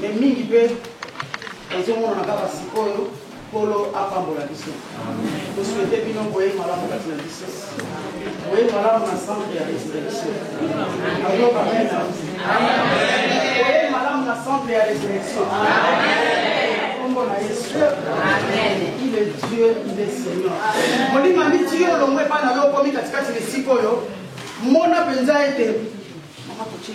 mais mingi mpe ezomonana kaka sikoyo nkolo apambola biso tosuete bino boye malamu kati na biso boye malamu na centre ya resurrection ayoka mena boye malamu na centre ya resurrection nkombo na yesu il est dieu il est seigneur molima miti yo olongo epai na yo okomi katikati na esika oyo mona mpenza ete mama totie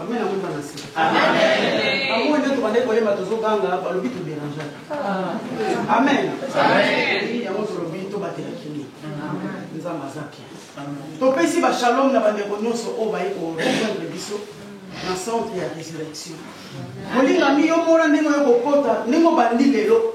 Amen yango bana se. Amen. Bango ndio tubandaki koyemba tozoganga balobi toderangeaka. Amen. Amen. Yango tolobi tobatela kimia. Nzambe aza bien. Topesi ba shalom na bandeko nyonso oyo baye korejoindre biso na centre ya résurrection. Molingami yo mona ndenge oyo kokota ndenge obandi lelo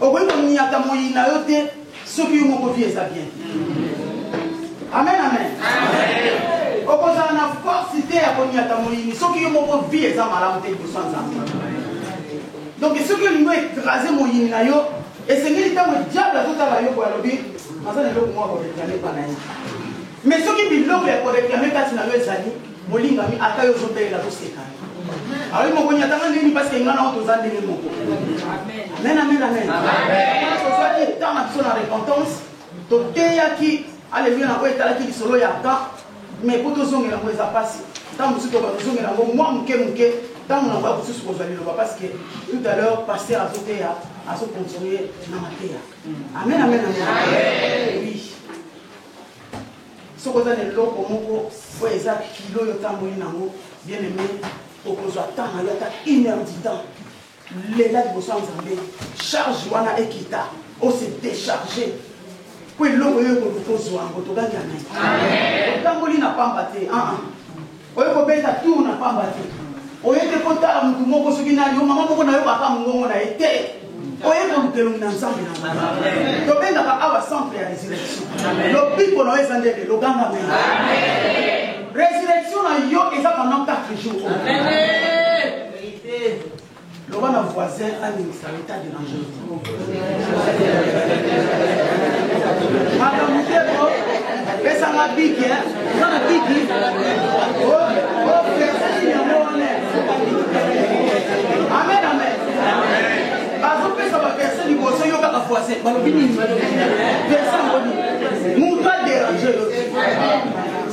okoki koniata moyi na yo te soki yo moko vie eza bien amen amen okozala na force te ya koniata moyini soki yo moko vie eza malamu te liboso ya nzambe donc soki olingi oekrase moyini na yo esengeli ntango diable azotala yo boye alobi aza na eloko moko akoreklame epa na ye mais soki biloko ya koreklame kati na yo ezali Molingami ata yo ozo belela to seka ye. Awi moko ni atanga ndeni parce que ngana oto za ndenge moko. Amen. Amen amen amen. Amen. Ozo za ki tanga biso na repentance. To teya ki Alléluia na ko etala ki lisolo ya ka. Mais ko to zonge na ko eza pasi. Tango musu to ba zonge na ko mwa muke muke. Tango na ba kususu ko zali loba parce que tout à l'heure pasteur azo teya azo continuer na mateya. Amen amen amen. Amen. Oui. Soki oza na eloko moko oyo eza kilo oyo otamboli nango bien aime okozwa temps nayo ata une heure du temps lela liboso ya nzambe charge wana ekita ose decharge po eloko yo ekoluka ozwa yango togangi amen otamboli na pamba te aa ah, ah. Oye kobeta tour na pamba te. Oye te kotala mutu moko soki nani yo mama moko na yo baka mongongo na ye te. Oye koluka elongi na Nzambe na ngai. Tobengaka awa centre ya resurrection. Lobiko na yo eza nde lelo ganga mei. Resurrection na yo eza pendant 4 jours. Amen. Loba na voisin andimisa yo ta derange makambo te po pesanga biki oza na biki ofersi yango wana amen amen bazopesa baverse liboso yo kaka voisin balobi nini verse yango nini moto aderange yo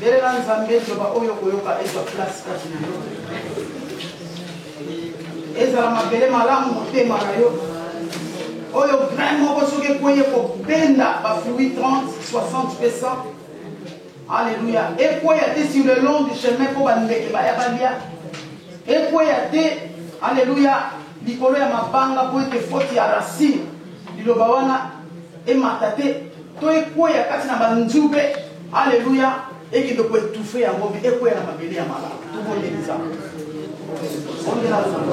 Belela Nzambe, zoba oyo okoyoka ezwa place kati na yo. Ezala mabele malamu motema na yo. Oyo grain moko soki ekwei ekobenda ba fruits 30, 60 pe 100. Alléluia. Ekweya te sur le long du chemin mpo bandeke baya balia. Ekweya te, alléluia, likolo ya mabanga mpo ete faute ya racine liloba wana Emata te, to ekweya kati na banzube. Aleluya! Ekende ko etouffer yango, mais ekweya na mabele ya malamu. Tobondeli Nzambe. Bondela Nzambe.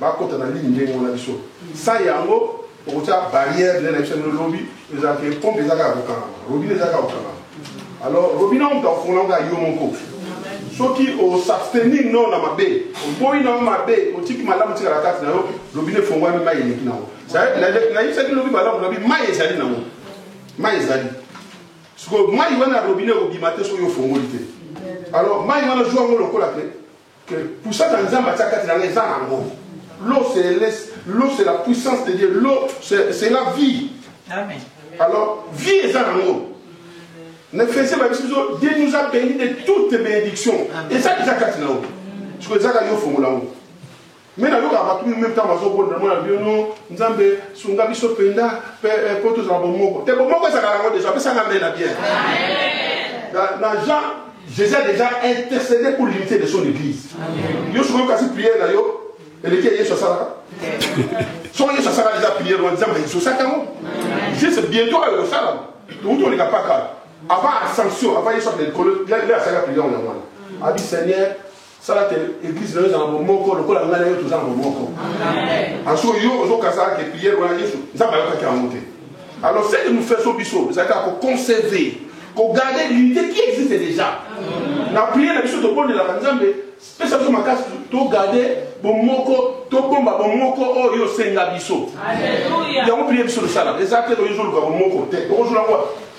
Ba kota na ligne ndenge wana biso sa yango okotia barrière ndenge na biso ndenge lobi ezala ke pompe ezaka ya kokangama robine ezaka ya kokangama alors robine omutu akofungola kaka yo moko soki osabstenir no na mabe oboyi nango mabe otiki malamu tikala kati na yo lobina efongwami mai eleki nango nayebisaki lobi malamu nabi mai ezali nango mai ezali sikoyo mai wana robine ekobima te soki ofongoli te alors mai wana zwa yango lokola te Que puissance nzambe atia kati na nga eza na ngo l'eau c'est la puissance de Dieu l'eau c'est la vie Amen. alors vie eza na ngo nefese babisi biso dieu nous a béni de toutes bénédictions eza eza kati na yo siko ezaka yo fongola ngo Mais na yoka batu meme tango bazo bonda na mona bio no nzambe sunga biso penda pe eh, po tozala bomoko te bomoko ezalaka yango deja pesa nga mena bien na jean jésus a déjà intercédé pour l'unité de son église yo soki oyokasi prière na yo eleki ya yesu asalaka soki yesu asala deja prière wana nzambe ezosaka yango juste bientôt ayo kosalama touti oleka paka avant ascension avant yesu akende likolo nde asalaka prière wana wana abi seigneur sala te eglise nayo ezala bomoko lokola ngai na yo toza na bomoko anso yo ozokasaka ke priere wana yesu nzambe ayokaki yango te alors ce que nous faisons biso ezali kaka koconserve kogarde l'unité qui existe déjà na priere na biso tobondelaka nzambe pesa biso makasi togarde bomoko tobomba bomoko oyo yo osenga biso yango priere biso tosala eza te toyozoluka bomoko te okozwa yango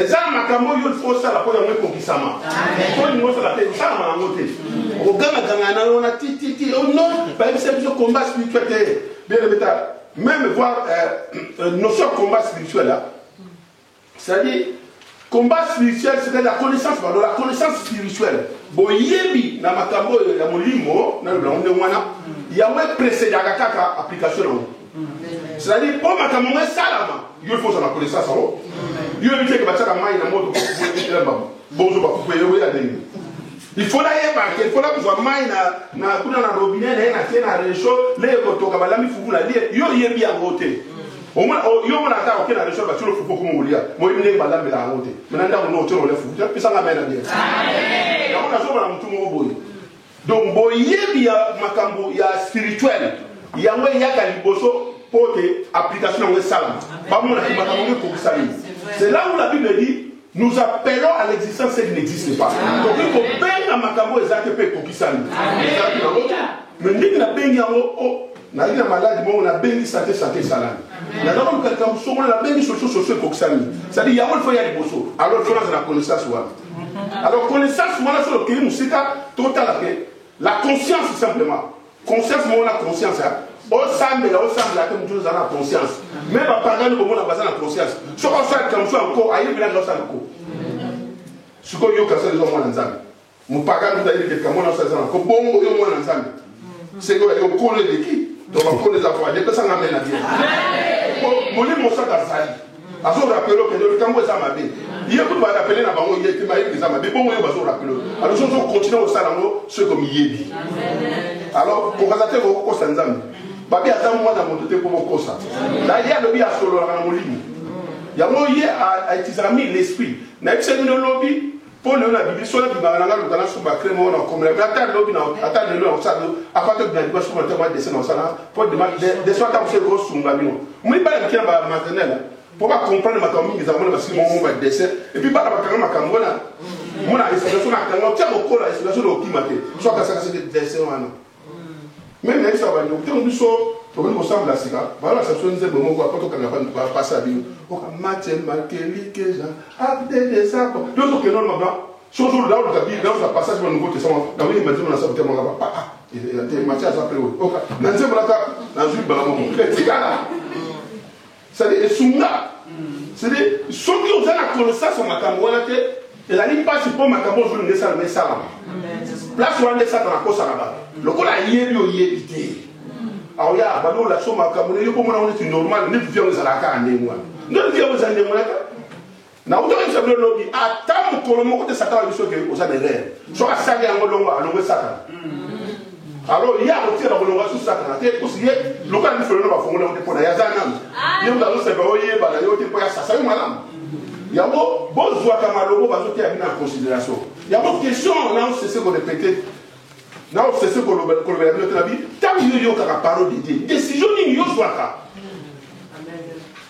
eza na makambo oyo ilfo osala mpo yango ekokisama olingi osala te osalama yango te okogangaganga na lona tititi no bayebisa biso combat spirituel te bien ebeta même voir notion ya combat spirituel c'est-à-dire combat spirituel c'est la connaissance pardon la connaissance spirituelle boyebi na makambo oyo ya molimo nalobi yango ndenge wana yango eprecedaka kaka application yango c'est-à-dire mpo makambo yango esalama yo ifo ozala konesasa o yo yebi teke batiaka mai na moto kokuela mbamba bozo bakuku eyobo ya ndenge ifo nayebaka ifo nakozwa mai na kuna na robine naye natie na recho leye kotoka balami fufu na lie yo oyebi yango te yo mona ata oke na recho batilo fufu okoma kolia moyebi ndenge balambela yango te mena ndako no otyo nole fufu te pesanga mai na bie yango nazomona motu moko boye Donc boyebi ya makambo ya spirituel yango eyaka liboso mpo te application yango esalama bamonaki makambo yango ekokisami c'est là où la bible dit nous appelons à l'existence ce qui n'existe pas tokoki kobenga makambo ezalaki mpe ekokisami ezalaki nango te mais ndenge nabengi yango nazali na maladi moko nabengi sante sante esalami naza koluka likambo songolo nabengi soso soso ekokisami cetadi yango lifo ya liboso alors lifo naza na connaissance wana alors connaissance wana soki okei mosika totala te la conscience simplement conscience moko na conscience ya osambela osambela te motu ozala na conscience me bapagani komona baza na conscience soki osala likambo so yanko ayebelaki osala ko sikoyo yoka sala eza mwana nzambe Mopagano kutu ayebi te likambo wana osalisa na nko bongo yo mwana nzambe seke oyo yo nkolo eleki to bakolo eza voile epesa nga mena bien molimo mosanto azali azorapele okende likambo eza mabe ye kutu barapele na bango ye te mayebi eza mabe bongo yo bazorapele alors soki ozokontinue kosala yango soki komiyebi alors kokaza te kokokosa nzambe babi aza mwana moto te mpo bokosa na ye alobi asololaka na molimo yango ye aitizaka mi l'esprit nayebisa bino lobi Po lelo na bimi solo bimaka na nga luka na sumba crème moko na komela mais ata lobi na ata lelo na kosala do apa to bina liba sumba tama dessin na kosala po dema dessin ata mosele ko sunga bino mui bana mike na ba maternelle po ba comprendre makambo mingi ezango na basili moko ba dessin et puis bana bakanga makambo wana mona esika so na kanga tia mokola esika so na okima te so akasaka se dessin wana Meme nayebisa ba ndoki tango biso tobandi kosambela sika balakisa biso nzembo moko apo tokanga ba ndoki bapasa bino oka matel makeli keja abde desako yo tokende wana mabla soki ozoluka oluka bi nauza passage ba nouveau testament na oyemba nzembo na sabu te mangaba pa ah, eh, eh, te mati aza mpe oyo oka na nzembo naka nazwi mbala moko etikala C'est à dire esunga c'est à dire soki oza na connaissance ya makambo wana te ezali mpasi mpo makambo ozo linga esalama esalama place wana nde satana akosaka bato lokola ayebi oyebi te aoya abandi olakisa makambo na yo komona ngo neti normal neti vie yango ezalaka kaka ndenge wana nde vie yango ezali ndenge wana kaka Nauti koyebisa bino lobi, ata mokolo moko te Satana biso ke oza na erreur. Soki asali yango longwa, alongwe Satana. Alors ye akotika na kolonga su Satana te, kusi ye lokola mifelo na bafongo na yo te mpo na ye aza nanu. Ye moto azoseka oyeba na yo te mpo ye asasa yo malamu. Yango bozwaka malobo bazoteya bino en considération. Yango question na osese ko répéter na osese kolobela bino te na bi ntango yo oyokaka parole de Dieu, décision nini yo ozwaka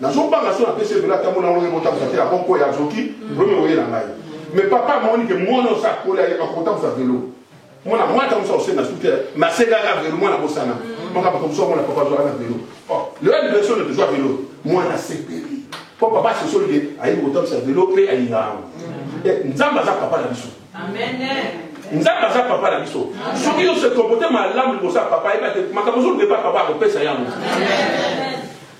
Nazo banga soki napesi ye velo atambola yango lokola ekotambusa te, ako kweya azoki problème ekoyela ngai. Mais papa amoni ke mwana oyo akoli ayebi ako kotambusa velo. Mwana mwa atambusa ose na suki te mais asengaka velo mwana abosana. Maka bato mosusu amona papa azwaka na velo. Oh, lelo anniversaire oyo tozwa velo. Mwana asepeli. Po papa asosoli ke ayebi kotambusa velo pe alingaka yango. Eh, Nzambe aza papa na biso. Amen. nzambe aza papa na biso soki yo se comporte malamu liboso ya papa yeba te makambo ozoluka epa papa akopesa yango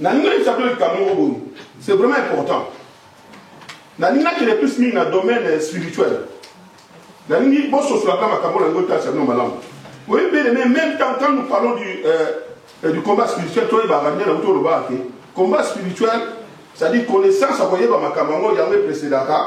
nalingaki sabino likambo moko boye c'est vraiment important nalingaki le plus mingi na domaine spirituel nalingi bososolaka makambo na yango tasa bino malamu oyebele mais même temps quand nous parlons du, euh, euh du combat spirituel toyebaka nde na kutu olobaka te combat spirituel c'est-à-dire connaissance ya koyeba makambo yango yango epresedaka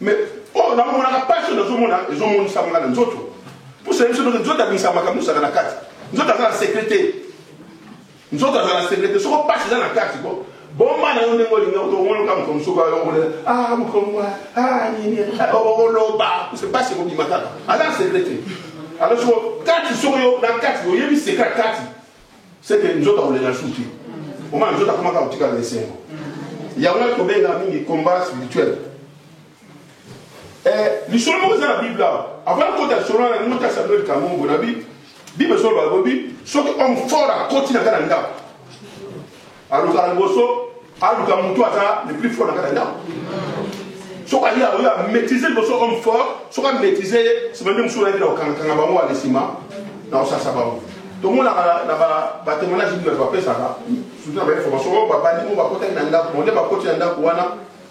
mais oyo oh, namonaka mpasi oyo nazomona ezomonisama nga na nzoto mpusa biso ndoki nzoto abimisa makambo nyosaka na kati nzoto aza na sekre te nzoto aza na sekre te soko mpasi eza na kati ko bomba na yo ndenge olinga otomonoka moto mosuku ayongolela ah mokomwa ah nini ah, oloba mpasi ekobima kaka aza na sekre te alors soko kati soko yo na kati oyebi sekre kati C'est que nzoto akolela lisusu te. Omona nzoto akomaka kotika na esengo. Yango wana tobenga mingi combat spirituel. Eh, lisolo moko eza na bible awa avant kota lisolo wana ndenge ta samuel kamombo na bible bible solo balobi soki homme fort akoti na ngai na ndako Alukaka liboso, aluka mutu aza le plus fort na kati ya ndako. Soki aye aoyo a maîtriser liboso homme fort, soki a maîtriser ye, sima nde mosusu ayaki na kokangakanga bango wana nsima na kosasa bango. tomonaka na batemoignage nini bato bapesaka surtout na bainformation oyo babandi mo bakotaki na ndako bonde bakoti na ndako wana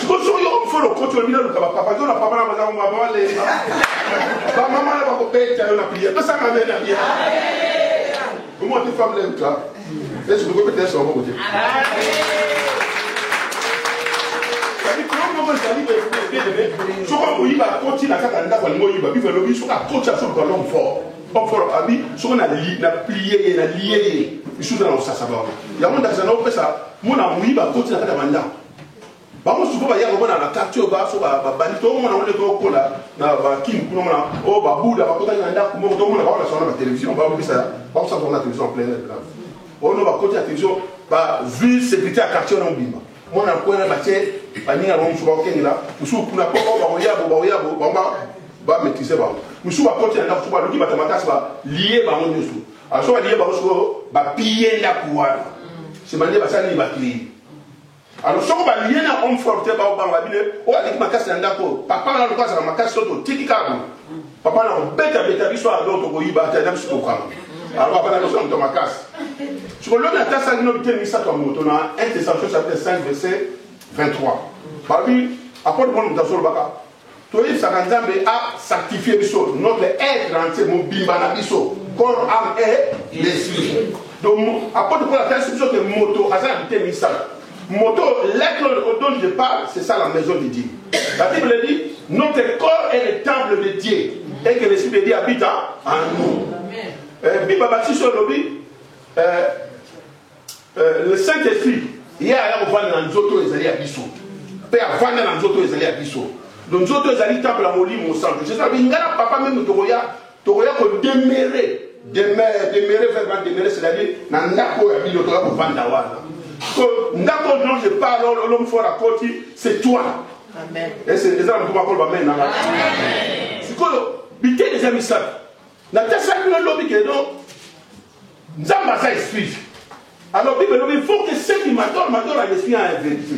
sikoyo soki yo mfolo okoti olobi naluka bapapa to na papa na bazango baba balemba bamama na bakobeta yo na priere tosanga mbe na bia omona te femme lem ta esi bokobeta yesu maboko te moko ezali bebele soki akoyiba akoti na kaka ndako alingi oyiba bive elobi soki akoti asoluka lome fort homme fort abi soki na plie ye na lie ye lisusu na kosasa bango yango ndakisa na opesa mona moyiba akoti na kati ya bandako Bango sikoyo baya komona na quartier oyo baso babandi tomona ngo nde tokola na bakin kuna mona oyo oh, babuda bakotaki na ndako moko tomona bango nasona na télévision babisa bakosala bango na télévision en plein air blanc oyo no bakoti na télévision bavue sécurité ya quartier wana mobimba mwana kwena batie baninga bango mosusu bakokengela mosusu kuna po oh, bakoyabo bakoyabo bango bamaîtrise bango mosusu bakoti na ndako soki baluki bato makasi balie bango nyonso aso balie bango sikoyo bapille ndako wana nsima nde basali bakei alors soko balie na homme fort te baobanga bino oyo aleki makasi na ndako oyo papa na lokola azala makasi to totiki kaka papa na kobetabeta biso ado tokoyiba ata na biso kokanga alors papa na biso na moto makasi soko lobi atasaki no biteni misato ya moto na 1 testation chapitre 5 verset 23 babi apôtre paul moto azolobaka Toyebisaka Nzambe a sanctifier biso, notre etre entier, mobimba na biso, corps, ame et l'esprit. Donc, apôtre Paul atalisi biso que moto aza na biteni misato. Moto, l'etre dont je parle, c'est ça la maison de Dieu. La Bible dit, notre corps est le temple de Dieu et que l'esprit de Dieu habite en nous. Amen. Eh, bible batisi oyo olobi eh, Le Saint Esprit ye aya kovanda na nzoto oyo ezali ya biso mpe avanda na nzoto oyo ezali ya biso. Donc nzoto ezali temple ya Molimo Mosantu. Jesus alobi ngai na Papa meme tokoya tokoya kodemere demere demere verbe wana demere c'est-à-dire na ndako oyo ya bino tokoya kovanda wana. Sikoyo ndako oyo dont je parle oyo l'homme fort akoti c'est toi. Amen. Eza na moto bakoloba amen na ngai. Amen. Sikoyo biteni eza misato. Natesaki bino lobi ke donc Nzambe aza esprit. Alors Bible elobi faut que ceux qui m'adorent m'adorent en esprit et en vérité.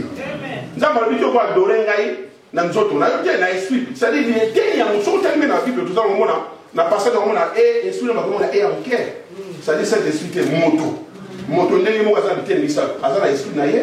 Nzambe alobi te okoadore ngai na nzoto na yo te na esprit. C'est-à-dire ni eteni yango soki otali mpe na Bible toza komona na passage komona e esprit na bakomona e ya moke. C'est-à-dire cet esprit te moto. Moto ndenge moko aza na biteni misato. Aza na esprit na ye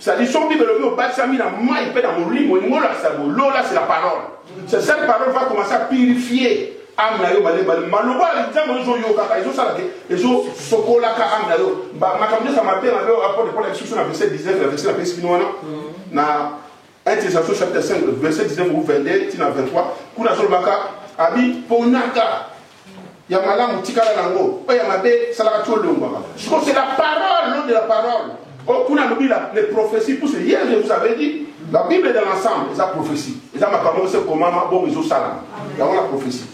C'est dit soki bible elobi obatisami na mai mpe na molimo elingi olakisa bo lola c'est la parole c'est cette parole va commencer à purifier ame na yo malebale maloba ya nzambe oyo ezoyokaka ezosala te ezosokolaka ame na yo makambo nyonso ya mabe mabe oyo apôtre paul ayebisi biso na verset 19 na verset napesi bino wana na 1 thessaloniciens chapitre 5 verset 19 ou 22 ti na 23 kuna azolobaka abi ponaka ya malamu tikala na yango oyo ya mabe salaka ti olongwaka sikoyo c'est la parole nom de la parole oyo kuna alobi les prophéties puisque hier je vous avais dit la bible dans l'ensemble eza prophétie eza makambo moko se komama bongo ezosalama yango na prophétie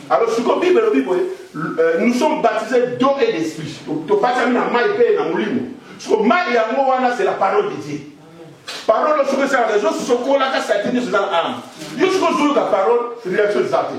alors sikoyo bible elobi boye euh, nous sommes baptisés d'eau et d'esprit tobatami na mai mpe na molimo sikoyo mai yango wana c'est la parole de dieu parole oyo soki esalaka ezosokolaka satini nyonso eza na ame yo soki ozoyoka parole réaction eza te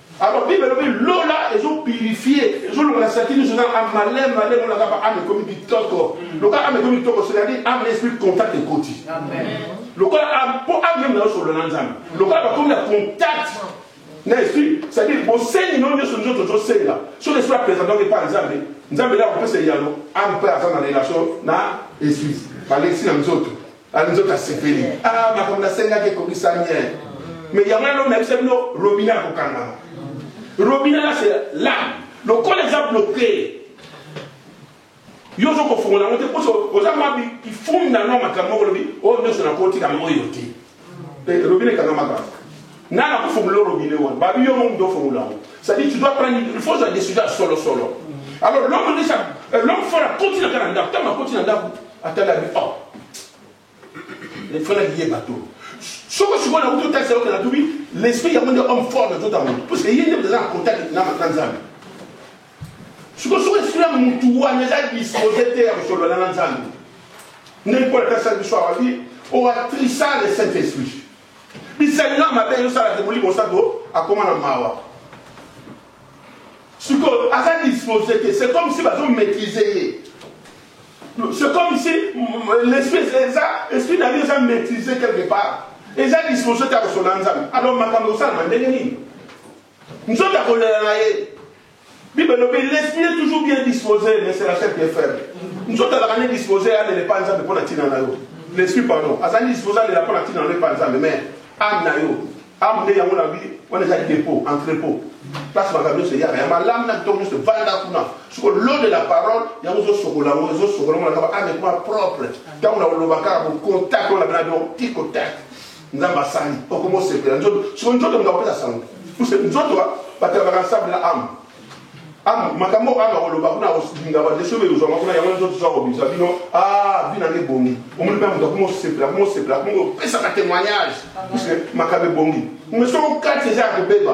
Alors bible elobi lola ezo purifier ezo longola saki nyonso na amale male mona kaka ame ekomi kitoko lokola ame ekomi kitoko c'est-à-dire ame esprit contact ekoti lokola ame mpo ame meme naosolola na nzambe lokola bakomi na contact na esprit c'est-à-dire bosengi no nyonso nzoto ozosenga soki esprit apresentaki epai ya nzambe nzambe nde akopesa eyano ame mpe aza na relation na esprit balekisi na nzoto Ah, nzoto asepeli ah, makambo nasengaki ekokisa bien mais yango wana nayebisa bino robina akokangama robina lase lame lokola eza bloke yo ozo kofongola yango te mposo oza mwa ifumi na no makambo moko olobi oyo oh, nyonso nakotikama oyo te eh, robina ekangamaka nga na kofongola robine wana babi yo momutu ofongola yango cestadire tu dois prendre il faut ozwa décision ya solo solo alors l'homme déjà euh, l'homme fort akoti na ka na ndako ntango akoti na ndako atala bi oh efana liye bato soko sikoyo nakuti otalisa yoka natubi l'esprit yango nde homme fort na nzoto ya moto parce que ye nde eza na contact na nzambe sikoyo soko esprit ya motu wana eza dispose te ya kosolola na nzambe ndenge mpo na tasala biso awabi oatrisa le saint esprit Bisalela ya mabe ezo sala te molimo santo akoma na mawa. Sikoyo aza dispose te, c'est comme si bazo maîtriser ye. C'est comme si l'esprit eza esprit na ye eza maîtriser quelque part. Eza dispose te ya kosolola na Nzambe. Alors makambo esalama ndenge nini? Nzoto ya kolela na ye. Bible elobi l'esprit est toujours bien disposé mais c'est la chair qui est faible. Nzoto azalaka nde disposé alela epai Nzambe mpo na ntina na yo. L'esprit pardon azali disposé alela mpo na ntina na yo epai Nzambe mais ame na yo ame nde yango na bi wana eza depot entrepot place makambo nyonso eyaka ya malamu na kitoko nyonso evanda kuna soko lo de la parole yango ezosokola yango ezosokola yango na kaba ame kuma propre ntango na koloba kaka bokontakte wana bina donc ti contact nzambe asali okomi osepela nzoto siko nzoto moto akopesa sango puse nzoto batalabaka nsambe na ame ame makambo oyo ame akoloba kuna akolinga badeso oyo ekozwama kuna yango nzoto so akobimisa bino a ah, bina nde ebongi omoni mpe moto akomi osepela akomi osepela akomi opesaka témoignage puse makambo ebongi me soko kati eza ya kobeba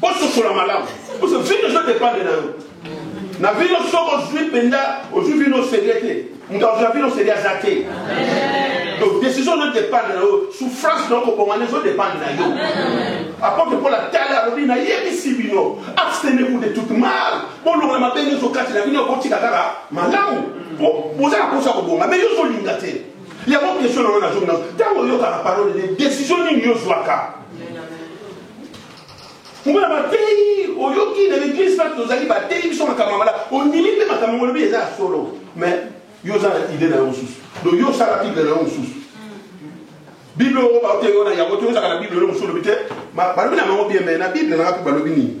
Bososola malamu. Parce que vino ezo dependre na yo. Na vino soki ozwi mpenza ozwi vino serie te. Moto azwa vino serie aza te. Donc décision ezo dependre na yo. Souffrance na yo kobongana ezo dependre na yo. Apôtre Paul atali alobi nayebisi bino abstenez-vous de toute mal. Bolongola mabe nyonso kati na bino botika kaka malamu. Boza na posa kobonga mais yo ozolinga te. Yango question na yo nazongi na ntango oyokaka parole de décision nini yo ozwaka Omona bateyi oyoki na eglise mpate tozali bateyi biso makambo mala ondimi mpe makambo yango olobi eza ya solo mais yo oza na ide na yo mosusu donc yo osala bible na yo mosusu bible oyo baoteyi yo na yango te ozalaka na bible oyo mosusu olobi te balobi na bango bien mai na bible nanga mpe balobi nini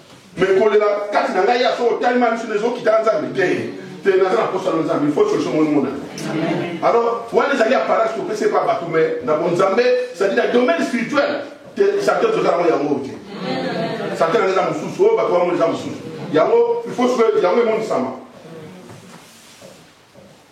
mais kolela kati na ngai ya soko otali ma misu ezokita na nzambe te te naza na mposa na nzambe ifo solution moni mona alors wana ezali apparence topesi epa bato mais na bonzambe cetadi na domaine spirituel te satan toza yango yango te satan eza mosusu oyo bato bamoni eza mosusu yango ifo yango emonisama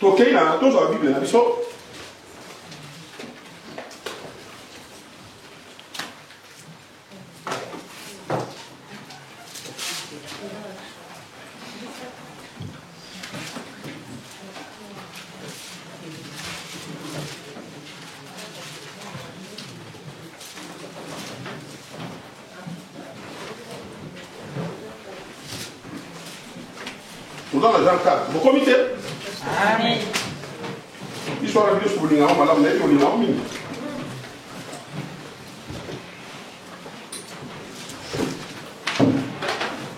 tokei na tozwa bible na biso oza na jean 4 bokomi te biso wana biso bolingango malamu nayebi olingango mingi